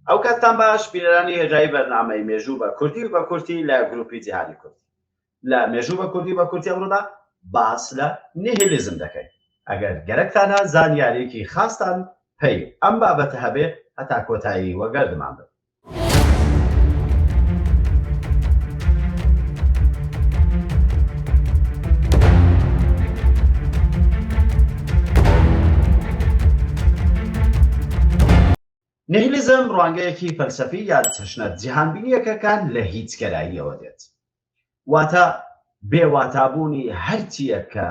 ئەوکاتتان باش بینەرانی هێژایی بەرنامەی مێژوو بە کوردی و بە کورتی لە گروپی جیهانی کوردی لە مێژوو بە کوردی و بە کورتی ئەمڕۆدا باس لە نیهیلیزم دەکەین ئەگەر گەرەکتانە زانیاریەکی خاستان پەی ئەم بابەتە هەبێ هەتا کۆتایی وەگەردمان بن. نیهیلیزم ڕوانگەیەکی فەلسەفی یا تەشنە جیهانبینییەکە کە لە هیچگەراییەوە دێت، واتە بێ واتابوونی هەر چییەک کە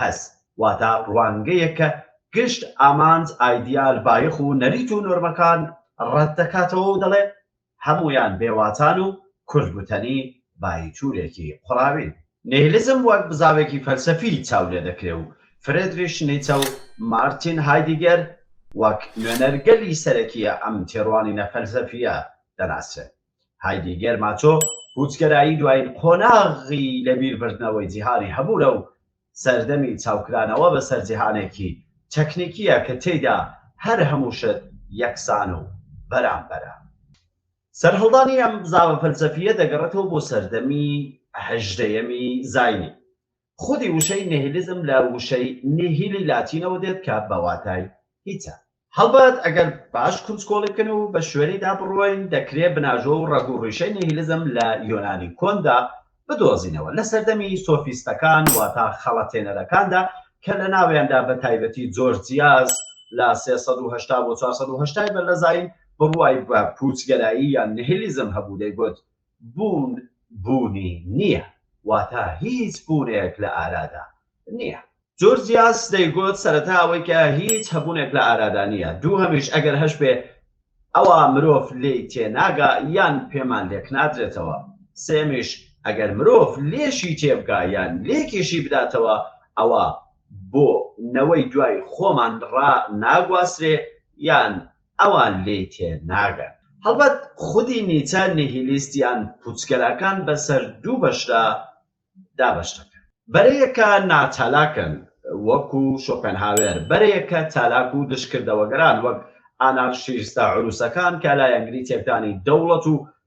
هەست، واتە ڕوانگەیەک کە گشت ئامانج، ئایدیال، بایەخ و نەریت و نۆرمەکان ڕەتدەکاتەوە و دەڵێ هەموویان بێ واتان و کورت گوتەنی باییچوولێکی قوڕاوین. نیهیلیزم وەک بزاوێکی فەلسەفی چاو لێ دەکرێ و فرێدریش نیچە و مارتین هایدیگەر وەک نوێنەرگەلی سەرەکیی ئەم تێڕوانینە فەلسەفییە دەناسرێن. هایدیگەر ماچۆ پووچگەرایی دوایین قۆناغی لەبیربردنەوەی جیهانی هەبوورە و سەردەمی چاوکرانەوە بەسەر جیهانێکی تەکنیکییە کە تێیدا هەر هەموو شت یەکسان و بەرامبەرە. سەرهەڵدانی ئەم بزاڤە فەلسەفییە دەگەڕێتەوە بۆ سەردەمی هەژدەیەمی زاینی. خودی وشەی نیهیلیزم لە وشەی نیهیلی لاتینەوە دێت کە بە واتای هیچە. هەڵبەت ئەگەر باش کونجکۆڵی بکەین و بە شوێنیدا بڕۆین، دەکرێ بناژۆ و ڕەگ و ڕیشەی نیهیلزم لە یۆنانی کۆندا بدۆزینەوە، لە سەردەمی سۆفیستەکان واتە خەڵەتێنەرەکاندا کە لە ناویاندا بە تایبەتی جۆرجیاس لە سێ سەد و هەشتا بۆ چوار سەد و هەشتا ی بەرلەزایین بڕوای بە پووچگەرایی یان نیهیلیزم هەبوو، دەیگوت، بوون بوونی نییە، واتە هیچ بوونێک لە ئارادا نییە. جۆرجیاس دەیگوت، سەرەتا ئەوەی کە هیچ هەبوونێک لە ئارادا نییە، دووهەمیش ئەگەر هەشبێ، ئەوا مرۆڤ لێی تێناگا یان پێمان لێکنادرێتەوە، سێیەمیش ئەگەر مرۆڤ لێشی تێبگا یان لێکیشی بداتەوە، ئەوا بۆ نەوەی دوای خۆمان ڕاناگواسرێ یان ئەوان لێی تێ ناگەن. هەڵبەت خودی نیچە نیهیلیست یان پوچگەراکان بە سەر دوو بەشدا دابەش دەکەن. بەرەیەکە ناچالاکن وەکو شۆپێنهاوێر، بەرەیەکە چالاک و دژکردەوەگەران وەک ئانارشیستە عرووسەکان کە لایەنگری تێکدانی دەوڵەت و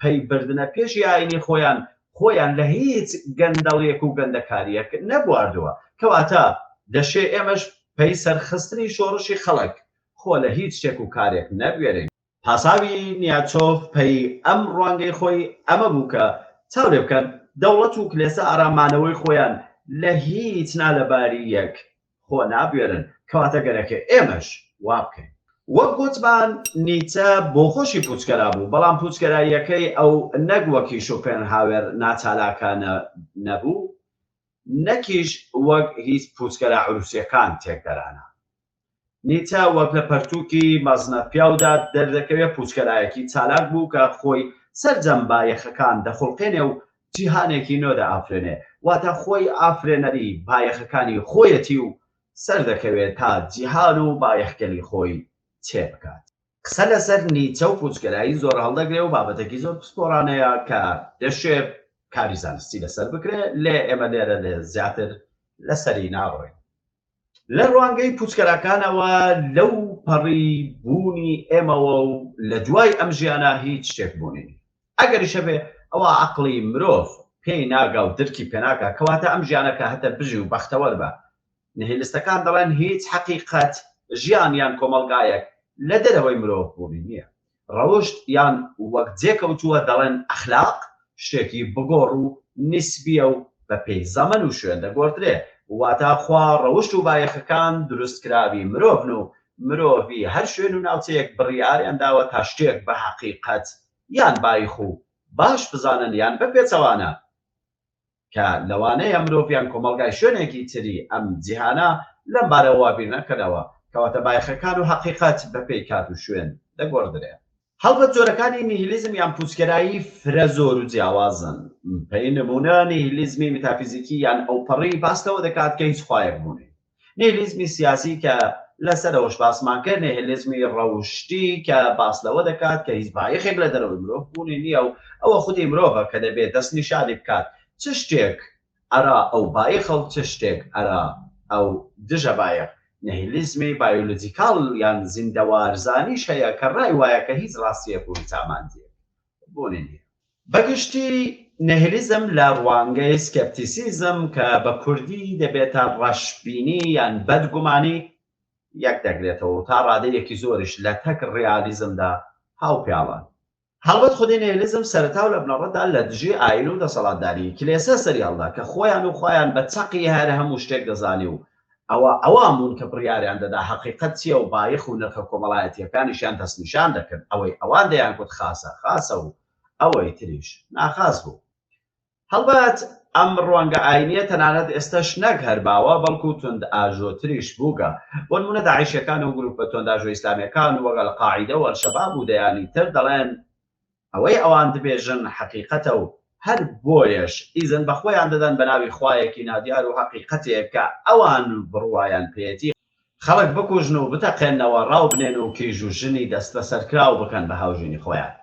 پەی بردنە پێشی ئاینی خۆیان خۆیان لە هیچ گەندەڵیەک و گەندەکاریەک نەبواردوە کەواتە دەشێ ئێمەش پەی سەرخستنی شۆڕشی خەڵک خۆ لە هیچ شتێک و کارێک نەبوێرین. پاساوی نیاتشۆف پەی ئەم ڕوانگەی خۆی ئەمە بوو کە چاو لێ بکەن دەوڵەت و کلێسە ئارام مانەوەی خۆیان لە هیچ نا لە باری یەک خۆ نابوێرن، کەواتە گەرەکە ئێمەش وا بکەین. وەک گوتمان نیچە بۆخۆشی پووچگەرا بوو، بەڵام پووچگەراییەکەی ئەو نەک وەکی شۆپێنهاوێر ناچالاکانە نەبوو، نەکیش وەک هیچ پووچگەرا عرووسییەکان تێکدەرانە. نیچە وەک لە پەرتووکی مەزنە پیاودا دەردەکەوێت پووچگەرایەکی چالاک بوو کە خۆی سەرجەم بایەخەکان دەخوڵقێنێ و جیهانێکی نۆ دەئافرێنێ، واتە خۆی ئافرێنەری بایەخەکانی خۆیەتی و سەردەکەوێ تا جیهان و بایەخگەلی خۆی چێ بکات. قسە لەسەر نیچە و پوچگەرایی زۆر هەڵدەگرێ و بابەتێکی زۆر پسپۆڕانەیە کە دەشێ کاری زانستی لەسەر بکرێ، لێ ئێمە لێرە لێ زیاتر لەسەری ناڕۆین. لە ڕوانگەی پوچکەراکانەوە لەو پەڕی بوونی ئێمەوە و لە دوای ئەم ژیانە هیچ شتێک بوونی نیە ئەگەریش هەبێ ئەوا عەقڵی مرۆڤ پێی ناگا و درکی پێناکا کەواتە ئەم ژیانە کە هەتە بژی و بەختەوەر بە نهیلستەکان دەڵێن هیچ حەقیقەت ژیان یان کۆمەڵگایەک لە دەرەوەی مرۆڤ بوونی نیە ڕەوشت یان وەک جێکەوتووە دەڵێن ئەخلاق شتێکی بگۆڕ و نیسبییە و بە پێی زەمەن و شوێن دەگۆڕدرێ، واتا خوا ڕەوشت و بایەخەکان دروستکراوی مرۆڤن و مرۆڤی هەر شوێن و ناوچەیەک بڕیاریان داوە تا شتێک بە هەقیقەت یان بایخ و باش بزانن یان بە پێچەوانە. کە لەوانەیە مرۆڤ یان کۆمەڵگای شوێنێکی تری ئەم جیهانە لەم بارەوە وا بیر نەکەنەوە، کەواتە بایەخەکان و هەقیقەت بە پێی کات و شوێن دەگۆڕدرێن. هەڵبەت جۆرەکانی نیهیلیزم یان پوچگەرایی فرە زۆر و جیاوازن، پێی نموونە نیهیلیزمی میتافیزیکی یان ئەوپەڕی باس لەوە دەکات کە هیچ خوایەک بوونی نییە، نیهیلیزمی سیاسی کە لەسەرەوەش باسمان کرد، نیهیلیزمی ڕەوشتی کە باس لەوە دەکات کە هیچ بایەخێک لە دەرەوەی مرۆڤ بوونی نییە و ئەوە خودی مرۆڤە کە دەبێت دەستنیشانی بکات چ شتێک ئەرا ئەو بایەخە و چ شتێک ئەرا ئەو دژە بایەخ. نیهیلیزمی بایۆلۆجیکاڵ یان زیندەوارزانیش هەیە کە ڕای وایە کە هیچ ڕاستییەک و هیچ ئامانجێک بوونی نییە. بە گشتی نێهیلیزم لە ڕوانگەی سکێپتیسیزم کە بە کوردی دەبێتە ڕەشبینی یان بەدگومانی یەک دەگرێتەوە و تا ڕادەیەکی زۆریش لەتەک ڕیالیزمدا هاوپیاڵە. هەڵبەت خودی نێهیلیزم سەرەتا و لە بنەڕەتدا لە دژی ئایین و دەسەڵاتداریی کلێسە سەریهەڵدا کە خۆیان و خوایان بە چەقی هەر هەموو شتێک دەزانی و ئەوا ئەوان بوون کە بڕیاریان دەدا هەقیقەت چییە و بایەخ و نرخە کۆمەڵایەتییەکانیشیان دەستنیشان دەکرد، ئەوەی ئەوان دەیانگوت خاسە، خاسە و ئەوەی تریش ناخاس بوو. هەڵبەت ئەم ڕوانگە ئایینییە تەنانەت ئێستەش نەک هەر باوە، بەڵکو توندئاژۆتریش بووگە. بۆ نموونە داعیشییەکان و گرووپە توندئاژۆ ئیسلامییەکان وەک ئەلقاعیدە و ئەلشەباب و دەیانی تر دەڵێن، ئەوەی ئەوان دبێژن حەقیقەتە و هەر بۆیەش ئیزن بە خۆیان دەدەن بە ناوی خوایەکی نادیار و هەقیقەتێک کە ئەوان بڕوایان پێیەتی، خەڵک بکوژن و بتەقێننەوە، ڕاو بنێن و کیژ و ژنی دەستبەسەرکراو بکەن بە هاوژینی خۆیان.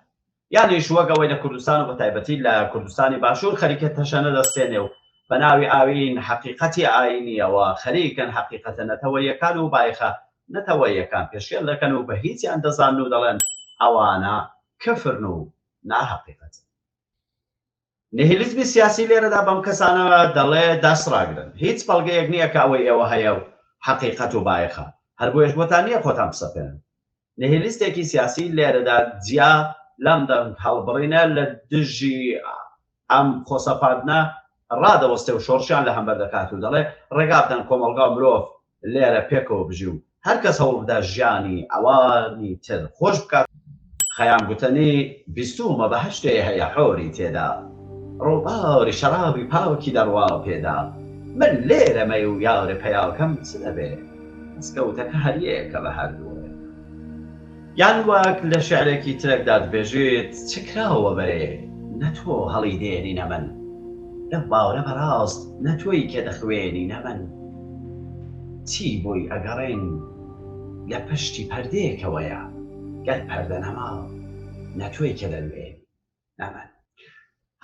یانیش وەک ئەوەی لە کوردستان و بە تایبەتی لە کوردستانی باشوور خەریکە تەشەنە دەستێنێ و بە ناوی ئایین، حەقیقەتی ئایینییەوە خەریکن حەقیقەتە نەتەوەییەکان و بایخە نەتەوەییەکان پێشێل دەکەن و بە هیچیان دەزانن و دەڵێن ئەوانە کفرن و ناهەقیقەتن. نیهیلیزمی سیاسی لێرەدا بەم کەسانە دەڵێ دەست ڕاگرن، هیچ بەڵگەیەک نییە کە ئەوەی ئێوە هەیە و هەقیقەت و بایەخە، هەر بۆیەش بۆتان نییە خۆتان بسەپێنن. نیهیلیستێکی سیاسی لێرەدا جیا لەم دەنگهەڵبڕینە لە دژی ئەم خۆسەپاندنە ڕادەوەستێ و شۆڕشیان لە هەمبەر دەکات و دەڵێ، ڕێگا بدەن کۆمەڵگا و مرۆڤ لێرە پێکەوە بژی و هەر کەس هەوڵ بدا ژیانی ئەوانی تر خۆش بکات. خەیام گوتەنی بیستوومە بەهەشتێ هەیە حۆری تێدا ڕووباری شەڕابی پاکی دەڕوا پێدا من لێرەمە و یارە پیاوەکەم چ دەبێ دەسکەوتەکە هەر یەکە بە هەردووک. یان وەک لە شیعرێکی ترەکدا دبێژیت، چ کراوە بەرێ، نە تۆ هەڵی دێنی نە من. لەو باوەرە بەڕاست نە تۆی کە دەخوێنی نە من. چی بۆی ئەگەڕێین لە پشتی پەردەیەکەوەیە، گەر پەردە نەما، نە تۆی کە دەنوێنی. نامانی.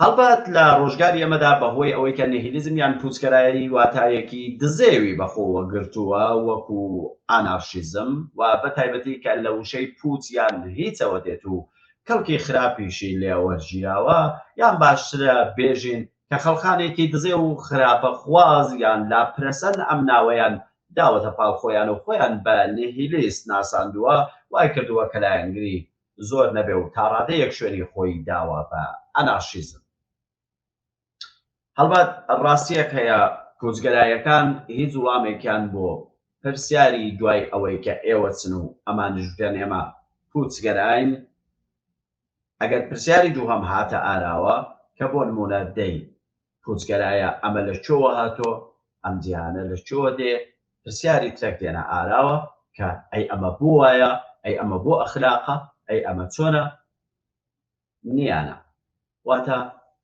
هەڵبەت لە ڕۆژگاری ئەمەدا بەهۆی ئەوەی کە نهیلیزم یان پوچکەرایی واتایەکی دزێوی بەخۆوە گرتووە وەکو ئانارشیزم و بە تایبەتی کە لە وشەی پوچ یان هیچەوە دێت و کەڵکی خراپیشی لێوە ژیراوە یان باشترە بێژین کە خەڵخانێکی دزێ و خراپە خواز یان لاپرەسەن ئەم ناوەیان داوەتە پاڵ خۆیان و خۆیان بە نهیلیست ناساندووە وای کردووە کە لایەنگری زۆر نەبێ و تاڕادەیەک شوێنی خۆی داوە بە ئەنارشیزم. هەڵبەت ڕاستییەک هەیە کۆچگەرایەکان هیچ وڵامێکیان بۆ پرسیاری دوای ئەوەی کە ئێوە چن و ئەمانیش بگەن ئێمە کوچگەراین، ئەگەر پرسیاری دووهەم هاتە ئاراوە کە بۆ نموونە دەی پوچگەرایە ئەمە لە کوێوە هاتوە ئەم جیهانە لە کوێوە دێ پرسیاری ترەک دێنە ئاراوە کە ئەی ئەمە بۆ وایە ئەی ئەمە بۆ ئەخلاقە ئەی ئەمە چۆنە نیانە واتە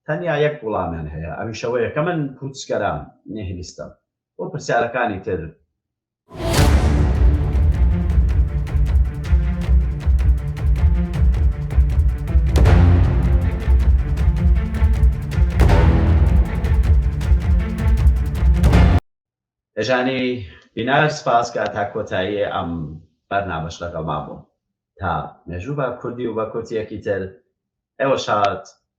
تەنیا یەک وڵامیان هەیە ئەویشەوەیە کە من پوچگەرام نێهلیستم بۆ پرسیارەکانی تر دەژانی بینار سپاس کە تا کۆتایی ئەم بەرنامەش لەگەڵما بوون تا مێژوو بە کوردی و بە کورتیەکی تر ئێوە شاد